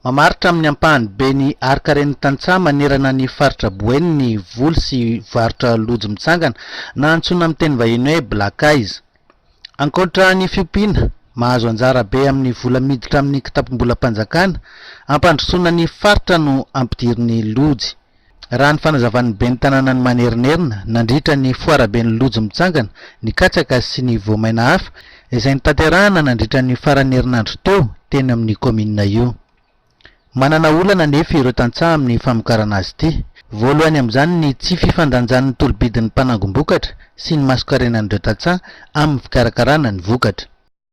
Mamaritra amin'ny ampahany be ny harin-karen'ny tantsaha manerana ny faritra Boeny ny voly sy varotra lojy mitsangana, na antsoina amin'ny teny vahiny hoe Black Eyes. Ankoatra ny fiompiana, mahazo anjara be amin'ny vola miditra amin'ny kitapom-bolam-panjakana hampandrosoana ny faritra no ampidirin'ny lojy. Raha ny fanazavan'ny ben'ny tanànan'i Manerinerina nandritra ny foaraben'ny Lojo mitsangana ny katsaka sy ny voamaina hafa izay notanterahana nandritra ny faran'ny herinandro teo teny amin'io kaominina io. Manana olana anefa ireo tantsaha amin'ny famokarana azy ity. Voalohany amin'izany ny tsy fifandanjan'ny tolobidin'ny mpanangom-bokatra sy ny mason-karenan'ireo tantsaha amin'ny fikarakarana ny vokatra.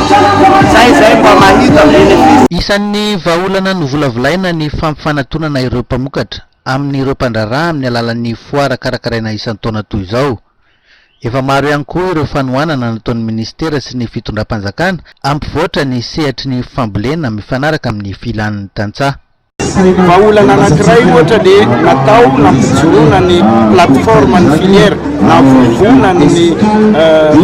Izay izay mba mahita bénéfice. Isan'ny vahaolana novolavolaina ny fampifanatonana ireo mpamokatra amin'ireo mpandraharaha amin'ny alalan'ny foara karakaraina isan-taona toy izao. Efa maro ihany koa ireo fanohanana nataon'ny minisitera sy ny fitondram-panjakana hampivoatra ny sehatry ny fambolena mifanaraka amin'ny filan'ny tantsaha. Vahaolana anankiray ohatra ny natao nampijoroana ny plateforme ny filière nahavoavoana ny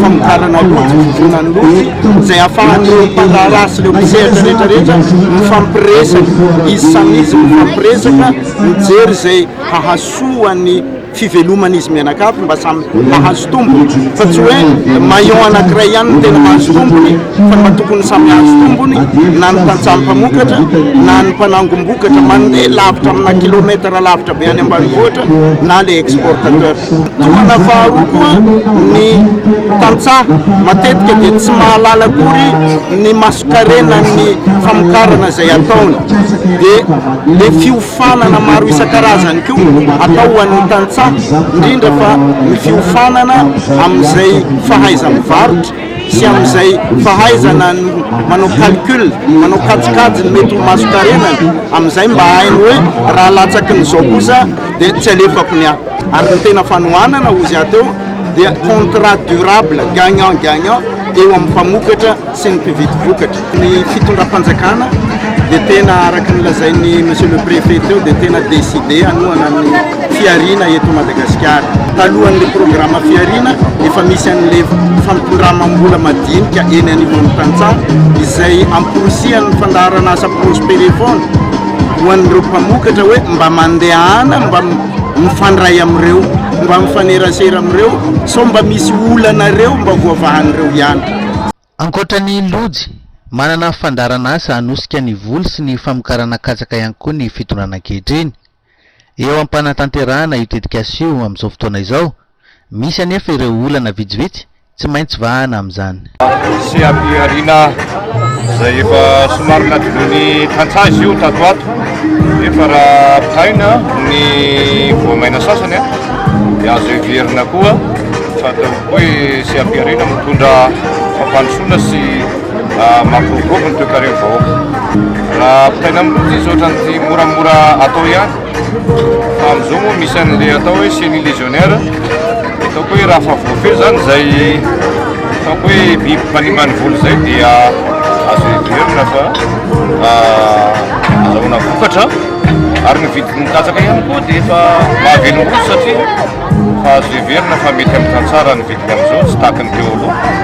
famokarana lojy, voavoana ny lojy izay ahafahan'ireo mpandraharaha sy ireo mpisehatra rehetra rehetra mifampiresaka, izy samy izy mifampiresaka mijery izay hahasoa ny. fiveloman'izy mianakavy mba samy mahazo tombony fa tsy hoe maillon anankiray ihany no tena mahazo tombony fa mba tokony samy hahazo tombony na ny tantsaha mpamokatra na ny mpanangom-bokatra mandeha lavitra amina kilometatra lavitra be any ambanivohitra na le exportateur tohana faharoa koa ny tantsaha matetika dia tsy mahalala akory ny masokarena ny famokarana izay ataony dia le fiof Fiofanana maro isan-karazany koa atao ho an'ny tantsaha, indrindra fa ny fiofanana amin'izay fahaiza-mivarotra sy amin'izay fahaizana ny manao calcul, manao kajikajy ny mety ho mason-karenany, amin'izay mba hainy hoe raha latsaky ny izao kosa dia tsy alefako ny ahy. Ary ny tena fanohanana hozy aho teo dia contrat durable gagnant gagnant eo amin'ny mpamokatra sy ny mpividy vokatra. Ny fitondram-panjakana dia tena araka ny lazain'ny Monsieur le Préfet teo dia tena décidé hanohana ny fihariana eto Madagasikara. Talohan'ilay programa fihariana, efa misy an'ilay fampindramam-bola madinika eny anivon'ny tantsaha izay amporisihan'ny fandaharan'asa Prospere foana ho an'ireo mpamokatra hoe mba mandehana mba mifandray amin'ireo, mba mifanerasera amin'ireo sao mba misy olanareo mba voavahan'ireo ihany. Ankoatra ny lojy, manana fandaharan'asa hanosika ny voly sy ny famokarana katsaka ihany koa ny fitondrana ankehitriny. Eo am-panatanterahana io tetikasa io amin'izao fotoana izao, misy anefa ireo olana vitsivitsy tsy maintsy vahana amin'izany. Misy ampihariana izay efa somary nadinoin'ny tantsaha izy io tato ho ato, nefa raha ampitahaina amin'ny voamaina sasany dia azo heverina koa Sady ataovy koa i Seha-Piharina mitondra fampandrosoana sy mampiroborobo ny toekaren'ny vahoaka. Raha ampitaina amin'ny loza izy ohatran'ny moramora atao ihany. Fa amin'izao moa misy an'ilay atao hoe chenille légionnaire. Ataoko hoe raha fa voafehy izany izay ataoko hoe biby mpanimba ny voly izay dia azo heverina fa azahoana vokatra. Ary ny vidin'ny katsaka ihany koa dia efa mahavelom-bolo satria. fa azo heverina fa mety amin'ny tantsaha raha ny vidiny amin'izao tsy tahaka ny teo aloha.